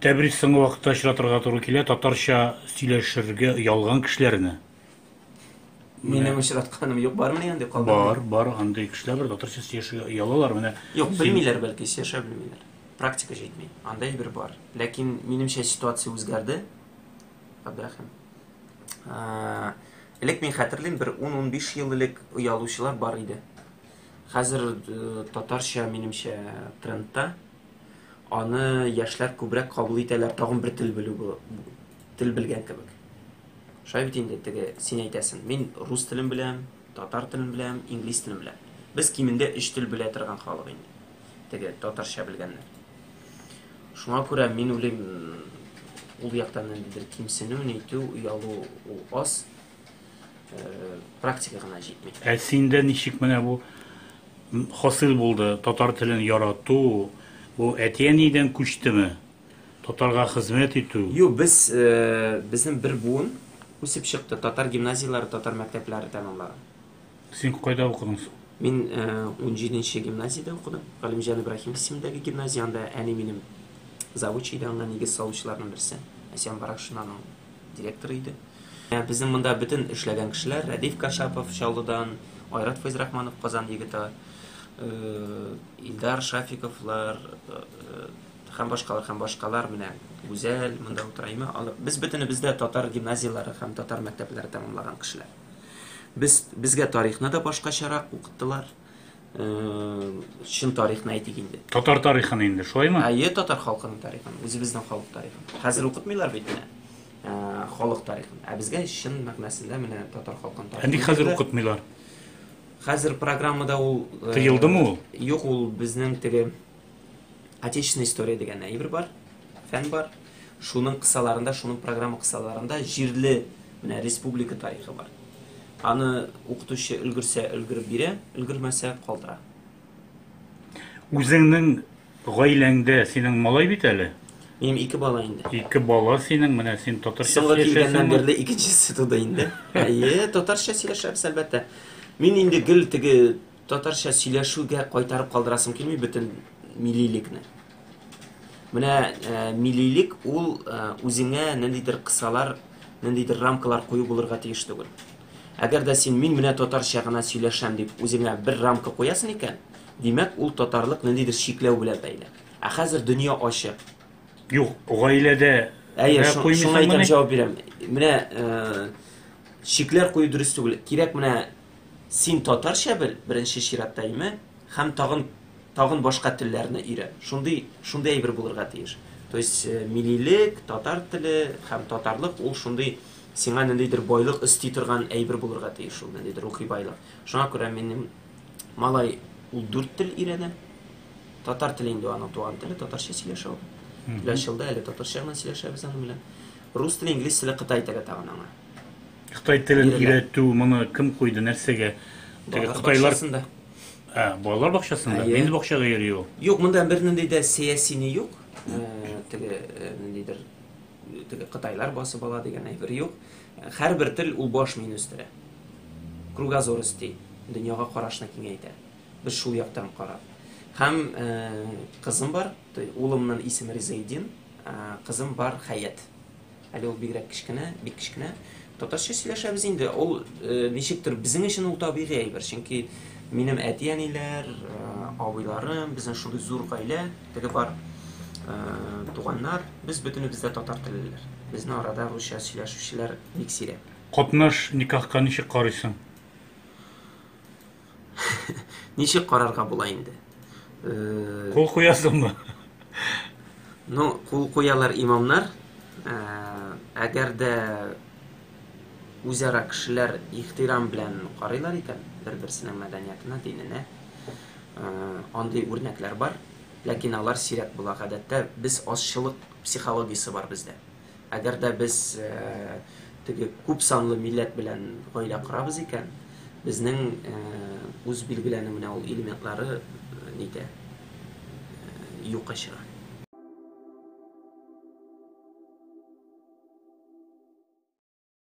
Тәбрис соңгы вакытта очратырга туры килә, татарча сөйләшергә оялган кешеләрне. Минем очратканым юк, бармы янде калды? Бар, бар, андый кешеләр бар, татарча сөйләшергә оялалар, менә. Юк, белмиләр бәлки, сөйләшә белмиләр. Практика җитми. Анда әйбер бар. Ләкин минемчә ситуация үзгәрде. Абдрахим. Элек мин хәтерлим, бер 10-15 ел элек оялучылар бар иде. Хәзер татарча минемчә трендта. Аны яшьләр күбрәк кабул итәләр, тагын бер тел белү бу. Тел белгән кебек. Шулай бит инде теге син әйтәсен. Мин рус телен беләм, татар телен беләм, инглиз телен беләм. Без кимендә өч тел белә торган халык инде. Теге татарча белгәннәр. Шуңа күрә мин уйлыйм, ул яктан ниндидер кимсенү, нитү, оялу ул аз. практика гына җитми. Ә синдә ничек менә бу хасил булды? Татар телен ярату, бу әти-әнидән күчтеме? Татарга хезмәт итү? Юк, без безнең бер буын үсеп чыкты. Татар гимназияләре, татар мәктәпләре тәмамлаган. Син кайда укыдың соң? Мин 17 гимназиядә укыдым. Галимҗан Ибраһим исемендәге гимназия, анда әни минем завуч иде, анда нигез салучыларның берсе. Әсьян Баракшин аның директоры иде. Безнең монда бөтен эшләгән кешеләр, Рәдиф Кашапов, Чаллыдан, Айрат Фәйзрахманов, Казан егете, Илдар Шафиковлар һәм башкалар, һәм башкалар, менә Гүзәл монда утыра, әйме, алар, без бөтенебез дә татар гимназияләре һәм татар мәктәпләре тәмамлаган кешеләр. Без, безгә тарихны да башкачарак укыттылар. чын тарихны әйтик инде. Татар тарихын инде, шулаймы? Әйе, татар халкының тарихын, үзебезнең халык тарихын. Хәзер укытмыйлар бит менә ә, халык тарихын. Ә безгә чын мәгънәсендә менә татар халкының тарихын. Әнди хәзер укытмыйлар. Хәзер программада ул э, Тыелдымы ул? Юк, ул безнең теге Отечественная история дигән әйбер бар, фән бар. Шуның кысаларында, шуның программа кысаларында җирле менә республика тарихы бар. Аны укытучы өлгерсә өлгереп бирә, өлгермәсә калдыра. Үзеңнең гаиләңдә синең малай бит әле? Минем ике бала инде. Ике бала синең, менә син татарча Соңгы килгәннән бирле икенчесе туды инде. Әйе, татарча сөйләшәбез, әлбәттә. Мин инде гел теге Татарча сөйләшүгә кайтарып калдырасым килми бөтен милилекне. Менә э, милилек ул э, үзеңә нәндидер кысалар, нәндидер рамкалар кую булырга тиеш түгел. Әгәр дә син мин менә татарча гына сөйләшәм дип үзеңә бер рамка куясың икән, димәк ул татарлык нәндидер чикләү белән бәйле. Ә хәзер дөнья ачык. Юк, гаиләдә Әйе, шуңа әйтәм җавап бирәм. Менә э, чикләр кую дөрес түгел. Кирәк менә Син татарча бел, беренче чиратта, име, һәм тагын, тагын башка телләрне өйрән. Шундый, шундый әйбер булырга тиеш. То есть, милилек, татар теле һәм татарлык, ул шундый сиңа ниндидер байлык өсти торган әйбер булырга тиеш ул, ниндидер рухи байлык. Шуңа күрә минем малай ул дүрт тел өйрәнә. Татар теле инде аның туган теле, татарча сөйләшә ул. Киләчәктә әле татарча гына сөйләшәбез аның белән. Рус теле, инглиз теле, кытай теле тагын аңа. Кытай телен Бирелә. өйрәтү моны кем куйды, нәрсәгә? Теге Балалар кытайлар бакчасында. Ә, балалар бакчасында. Әйе. Нинди бакчага йөри ул? Юк, монда бернинди дә сәяси ни юк. Э, Теге э, ниндидер э, теге кытайлар басып ала дигән әйбер юк. Э, Һәрбер тел ул баш мин үстерә. Кругозор өсти, дөньяга карашны киңәйтә. Без шул яктан карап. Һәм э, кызым бар, то есть улымның исеме Ризаэддин, а кызым бар Хәят. Әле ул бигрәк кечкенә, бик кечкенә. Татарча сөйләшәбез инде. Ул ничектер безнең өчен ул табигый әйбер, чөнки минем әти-әниләр, абыйларым, безнең шундый зур гаилә, теге бар туганнар, без бөтенебез дә татар теллеләр. Безнең арада русча сөйләшүчеләр бик сирәк. Катнаш никахка ничек карыйсың? Ничек карарга була инде? Кул куясыңмы? Ну, кул куялар имамнар. Әгәр дә үзара кешеләр ихтирам белән карыйлар икән, бер-берсенең мәдәниятына, диненә, андый үрнәкләр бар. Ләкин алар сирәк була. Гадәттә без азчылык психологиясе бар бездә. Әгәр дә без теге күп санлы милләт белән гаилә корабыз икән, безнең үз билгеләнү менә ул элементлары нитә? Юкка чыга.